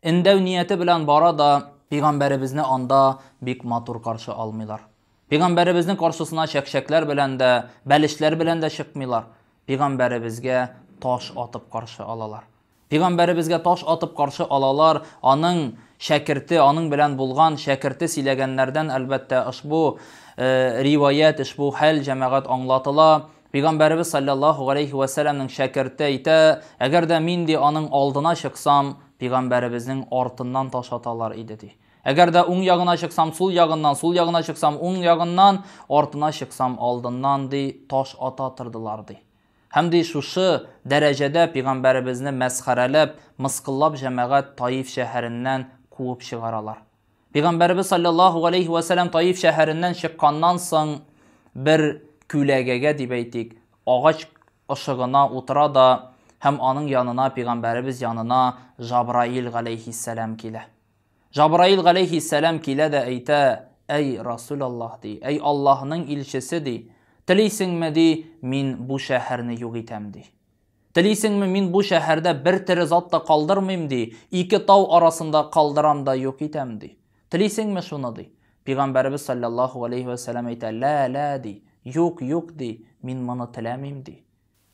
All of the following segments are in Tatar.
Эндәү нияте белән бара да, пигамбәребезне анда бик матур каршы алмыйлар. Пигамбәребезнең каршысына чәкчәкләр белән дә, бәлешләр белән дә чыкмыйлар. Пигамбәребезгә таш атып каршы алалар. Пигамбәребезгә таш атып каршы алалар, аның шәкерте, аның белән булган шәкерте силәгәннәрдән әлбәттә ошбу риваять, ошбу хәл җәмәгать аңлатыла. Пәйгамбәребез саллаллаху алейхи вә сәлләмнең шәкерте әйтә, әгәр дә мин ди аның алдына чыксам, пәйгамбәребезнең артыннан таш аталар иде ди. Әгәр дә уң ягына чыксам, сул ягыннан, сул ягына чыксам, уң ягыннан, артына чыксам, алдыннан ди таш ата тордылар ди. Һәм ди шушы дәрәҗәдә пәйгамбәребезне мәсхәрәләп, мыскыллап җәмәгать Таиф шәһәреннән куып чыгаралар. Пәйгамбәребез саллаллаху галәйһи ва сәлләм Таиф шәһәреннән чыкканнан соң бер күләгәгә дип әйтик, агач ышыгына утыра да һәм аның янына пәйгамбәребез янына Жабраил галәйһиссәлам килә. Жабраил галәйһиссәлам килә дә әйтә, әй Расул Аллаһ ди, әй Аллаһның илчесе ди, телисеңме ди, мин бу шәһәрне юк итәм ди. Телисеңме, мин бу шәһәрдә бер тере зат та калдырмыйм, ди, ике тау арасында калдырам да юк итәм, ди. Телисеңме шуны, ди? Пигамбәребез салләллаһу галәйһи вә сәлам әйтә, Лә, лә, ди, юк, юк, ди, мин моны теләмим, ди.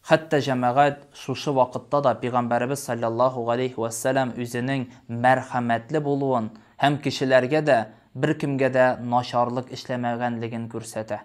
Хәтта җәмәгать шушы вакытта да Пигамбәребез салләллаһу галәйһи вә сәлам үзенең мәрхәмәтле булуын һәм кешеләргә дә, беркемгә дә начарлык эшләмәгәнлеген күрсәтә.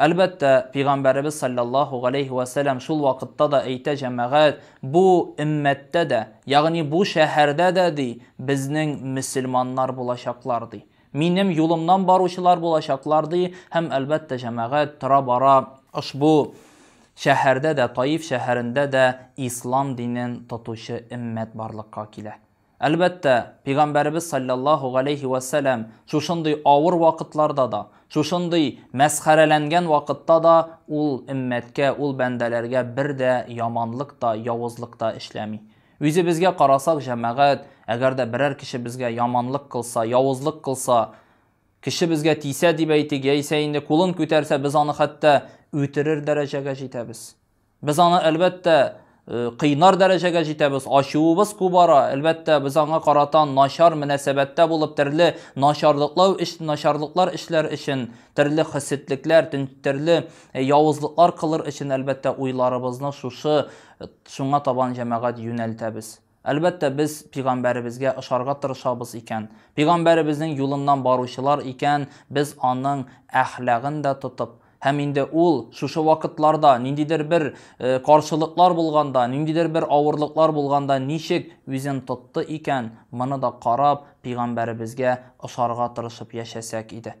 Әлбәттә, Пигамбәребез салләллаһу галәйһи вә сәләм шул вакытта да әйтә, Җәмәгать, бу өммәттә дә, ягъни бу шәһәрдә дә, ди, безнең мөселманнар булачаклар, ди. Минем юлымнан баручылар булачаклар, ди, һәм, әлбәттә, җәмәгать, тора-бара ошбу шәһәрдә дә, Таиф шәһәрендә дә ислам динен тотучы өммәт барлыкка килә. Әлбәттә, Пигамбәребез салләллаһу галәйһи вә сәләм шушындый авыр вакытларда да, шушындый мәсхәрәләнгән вакытта да ул өммәткә, ул бәндәләргә бер дә яманлык та, явызлык та эшләми. Үзебезгә карасак, җәмәгать, әгәр дә берәр кеше безгә яманлык кылса, явызлык кылса, кеше безгә тисә дип әйтик, яисә инде кулын күтәрсә, без аны хәтта үтерер дәрәҗәгә җитәбез. Без аны әлбәттә э, кыйнар дәрәҗәгә җитәбез, ачуыбыз кубара, әлбәттә без аңа карата начар мөнәсәбәттә булып төрле начарлыклау эш начарлыклар эшләр өчен, төрле хәсетлекләр, төрле э, явызлыклар кылыр өчен әлбәттә уйларыбызны шушы э, шуңа табан җәмәгать юнәлтәбез. Әлбәттә, без Пигамбәребезгә ошарга тырышабыз икән, Пигамбәребезнең юлыннан баручылар икән, без аның әхлагын да тотып, һәм инде ул шушы вакытларда, ниндидер бер каршылыклар булганда, ниндидер бер авырлыклар булганда ничек үзен тотты икән, моны да карап, Пигамбәребезгә ошарга тырышып яшәсәк иде.